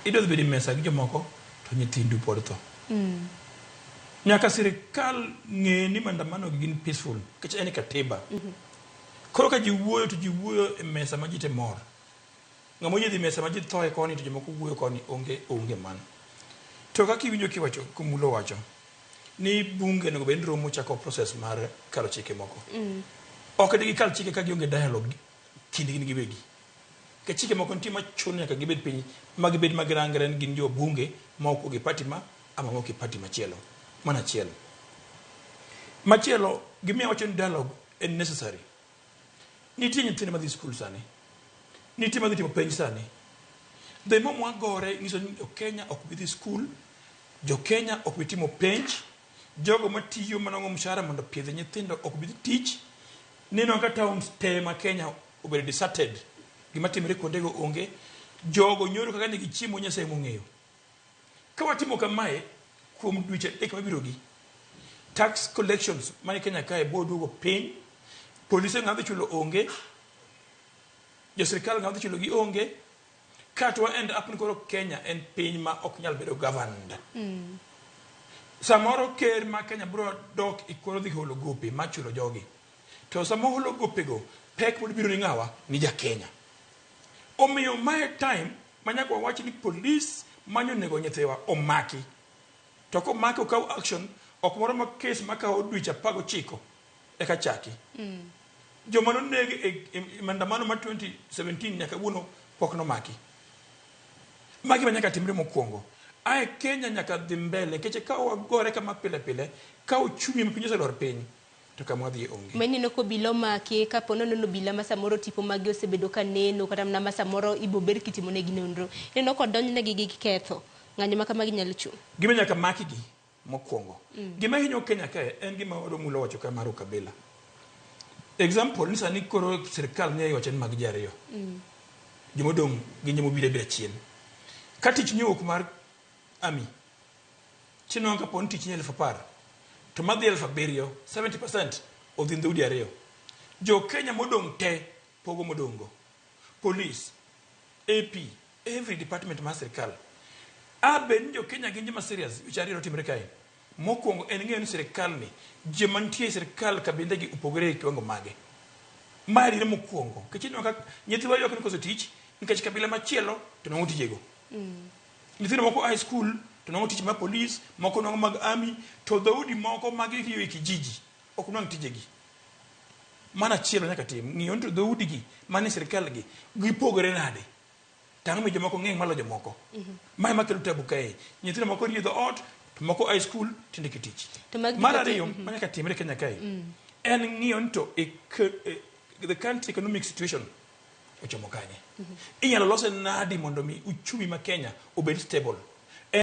idwadhi bede mesa gi jomoko to nyithindu pod tho mm. nyaka sirikal ng'e ni mandamano gi gin peaceful kech en katiba mm -hmm. koro ka ji wuoyo to ji wuoyo e mesa ma ji te mor ng'ama oyedhi mesa ma ji thoe koni to jomoko wuoyo koni onge onge mano to kaka iwinjo kiwacho kumulo wacho ni bunge onego bed romo chako process mar kalo chike moko mm. ok digi kal chike ka gionge dialogue kindgi giwegi Ka chike moko nitie ma chuno nyaka gibed piny ma gibed ma girangre ni gin jo bunge ma ok ogi party ma ama ma oki party machielo. Mano achiel. Machielo, gimiyo wacho ni dialogue en necessary. Nitie nyithindo madhi skul sani. Nitie madhi timo penj sani. The more mwagore nyiso ni Kenya ok bi dhi skul, jo Kenya ok bi timo penj, jogo matiyo manong'o mshahara mondo opiedh nyithindo ok bi dhi tich, nineno ka towns te ma Kenya obedo deserted gima timore kuondego onge jogo nyoro kaka ne gichiemo nyasaye mong'eyo ka watimo kamae kuom dweche adek mabirogi tax collections mane kenya kae biro duogo piny polise ng'adhi chulo onge jo sirkal ng'adhi chulo gi onge ka to end up ni koro kenya en piny ma ok nyal bedo governed mm. samoro ker ma kenya biro dok ikoro e dhi holo gope ma chulo jogi To sama oholo gopego, pek pod biro ni ng'awa? Ni ja Kenya. Omiyo mae time ma nyaka wawach ni police manyo nego nyithiwa omaki. To komaki okaw action ok moro ma kes makawo dweche apar gochiko eka chaki. Mm. Joma noneg e, e, e maandamano ma 2017 nyaka wuono pok nomaki. Magi ma nyaka timre mokwongo. Ae Kenya nyaka dhi mbele, keche ka wagore kama pile pile, ka uchumi ma piny oselor piny. To kama wadhiye onge. Ma ineno ka obila omaki, ka po nono ni obila ma samoro tipo magi osebedo ka neno, kata mana ma samoro ibo bed kitimo negi nonro. Ineno ka odonj negi gi ketho. Ng'anyo ma kamagi nyalo chung'. Gima nyaka maki gi mokwongo. Gima hinyo Kenya kae en gima Odong Mula owacho kae mar ukabila. Example ni sani koro sirkal ni owacho ni mag ji ariyo. Jomodong' gin jomobiro abira chien. Ka tich ni owuok mar Army, Chenro ka po ni tich ni elfu apar to madhi elfu abiriyo, 70% odhi ndhoudi ariyo. Jo Kenya modong' te pogo modong'go. Police, AP, every department mar sirkal. A bed ni jo Kenya gin joma serious, weche ariyo notimre kae. Mokwongo en ng'eyo ni sirkal ni joma nitie e sirkal kabinde gi opogore e kiwango mage. Ma adiera mokwongo. Nikech ineno ka nyithiwa ywak ni koso tich nikech kabila machielo to nong'o tijego. Mm. Nyithindo moko a e skul to nwang'o tich mag polis, moko nwang'o mag ami, to dhoudi moko mag riyo e kijiji ok nwang' tijegi. Mano achiel nyaka tim, ng'iyo ni to dhoudigi mane sirikalgi gipogore nade? To ang'o mi jomoko ng'eng' malo jomoko? Mhm. Ma ema kelo tabu kae. Nyithindo moko riyo dhoot, to moko a e skul tinde kitich. Mar ariyo mhm. ma nyaka timre Kenya kae mm. en ng'iyo ni to e, e, the country economic situation Ochomo kanye? Inyalo lose nadi mondo mi uchumi ma Kenya obed stable?